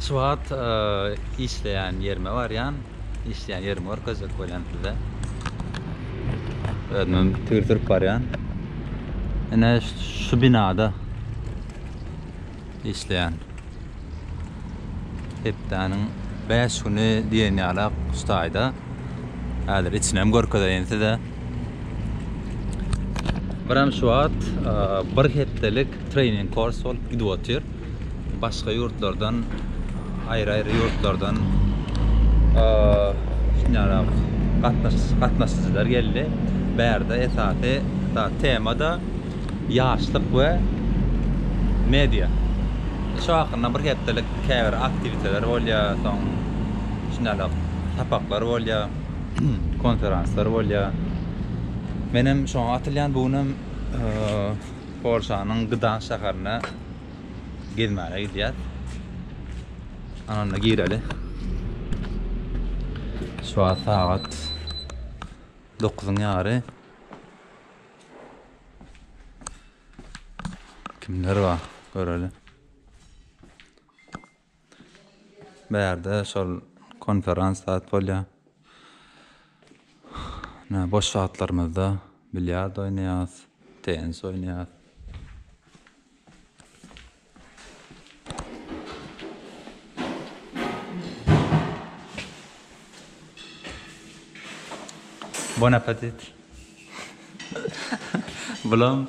Şu wagt işleýän ýerime barýan. Işleýän ýerimi görkezjek bolýan size. Özümem tigir sürüp barýan. Ine şu binada işleýän. Hepdäniň 5 güni diýen ýalak şu taýda. Häzir içinem görkezeýin size. Biram şu wagt bir hepdelik trening kurs bolup gidip otyr. Başga ýurtlardan, aýry-aýry ýurtlardan şunýarak gatnaşyjylar geldi. Bärde esasy tema-da ýaşlyk we media. Şu hakynda bir hepdelik käbir aktiwiteler bolýar, soň şunýarak sapaklar bolýar. konferanslar bolýar. Men hem şoňa atylýan, bu gün hem Polşanyň Gdansk şäherine gezmäne gidýär. Ananda gireli. Şu an sagat 9-yň ýary. Kimler bar? Göreli. Bärde şol konferans zat bolýar. Nä boş wagtlarymyzda bilýard oýnaýarys, tennis oýnaýarys. Bon appetit! Bulam.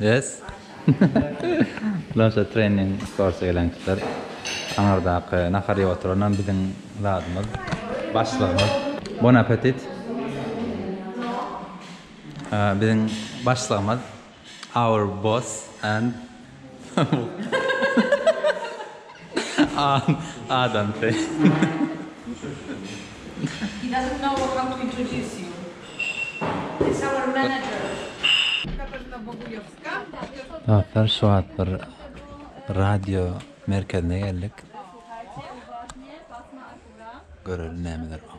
Yes. Planşet trening kursa gelen kişiler aňyrdaky nahar iýip oturanam biziň zadymyz, başlygymyz. Bon appetit. Biziň başlygymyz, our boss and. Dostlar şu wagt bir radio merkezine geldik. Göreli nämeler bar.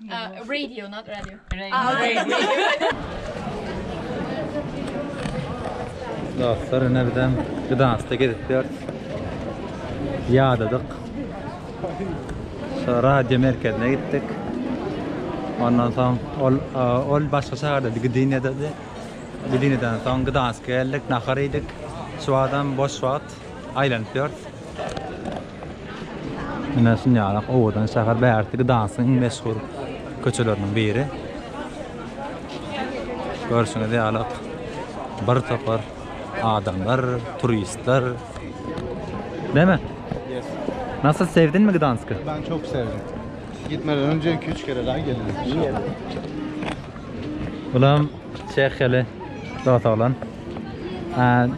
Radio, not radio. Dostlar, ine bizem Gdanskda gezip ýörüs. Ýadadyk. Şu radio merkezine gitdik. Ondan soň ol ol başga şäherde Gdyniýadady. Gdyniýadan soň Gdanska geldik, nahar iýdik. Şu adam boş wagt aýlanyp ýörüs. Ine şunýalak owadan şäher bärisi Gdansyň iň meşhur köçeleriniň biri. Görşüňiz ýaly bir topar adamlar, turistler. Deme. Nasıl sevdin mi Gdansk'ı? Ben çok sevdim. Gitmeden önce 2-3 kere daha geldim. Bulam Çehyeli dota olan.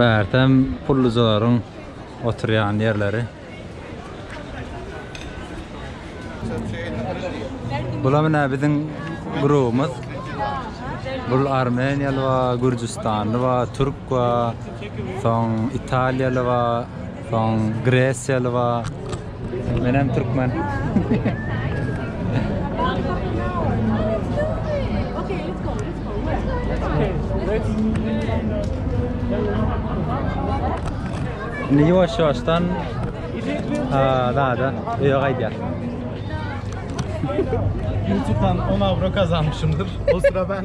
Bärtem pullujalaryň oturýan ýerleri. Bular menä biziň grubumyz. Bul armeniýaly bar, gürjüstanly bar, türk bar, soň italiýaly bar. Soň gresiýaly bar. Menem türkmen. Indi ýuwaş-ýuwaşdan zada öýe gaýdýar. Ýutudan 10 awro gazanmyşymdyr. O sıra ben